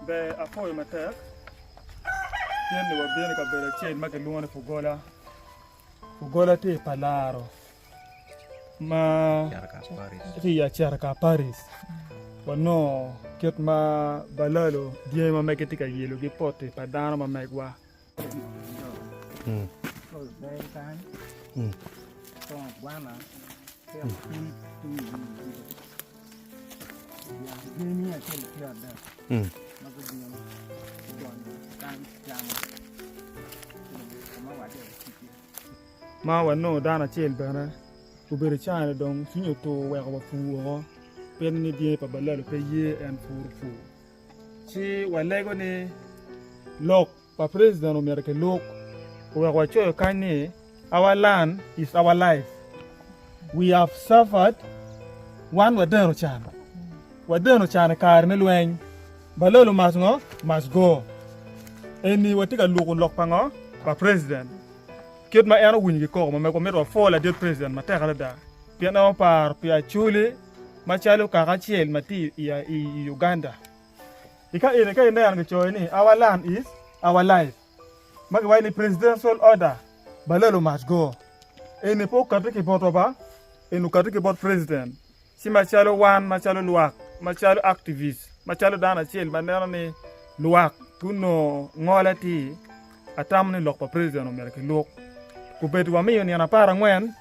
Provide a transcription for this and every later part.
Ber apoyo matek kit ni wabino i kabedo acel ma kilwongo ni pugola. Pugola tye pa laro ma tye i Acerka Paris. Wanongo kit ma balalo dyangi ma mege tye ka yelogi poti pa dano ma megwa. ma wanongo dano acel bene obedo i caa ni dong cwinye otur weko wapur woko pien ni dyangi pa balalo pe ye en puro pur ci walego ni lok pa president omyero kiluk oweko wacoyo kany ni our land is our life we have suffered wan wadeno can wadeno can i kare me lweny balolo must ngo must go eni watye ka luku lok pa ngo pa president kit ma en owinyo ki koko ma mego mito wa pwo ladit president matek adada pien en oparo pi acholi Macalo kaka acel ma tye i Uganda, i ka eni ka ineno kicoyo ni Our Land is Our Life ma giwaco ni Presidential Order, Balolo must go. Eni pe okati ki botwa ba, eni okati ki bot president. Ci macalo wan macalo lwak, macalo activist, macalo dano acel ma neno ni lwak gunongo ngole atir, Atamo ni lok pa president omyero kilwok kubed wamiyo nino apar angwen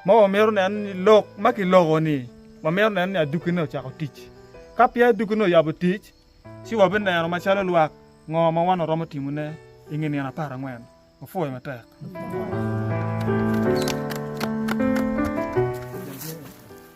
ma wamito neno ni lok ma kiloko ni wamito neno ni aduki ne ocako tic. Ka peya aduki ne oyabo tic, ci wabineno macalo lwak ngo ma wan waromo timo ne i nge nino apar angwen. Wapwoyo matek.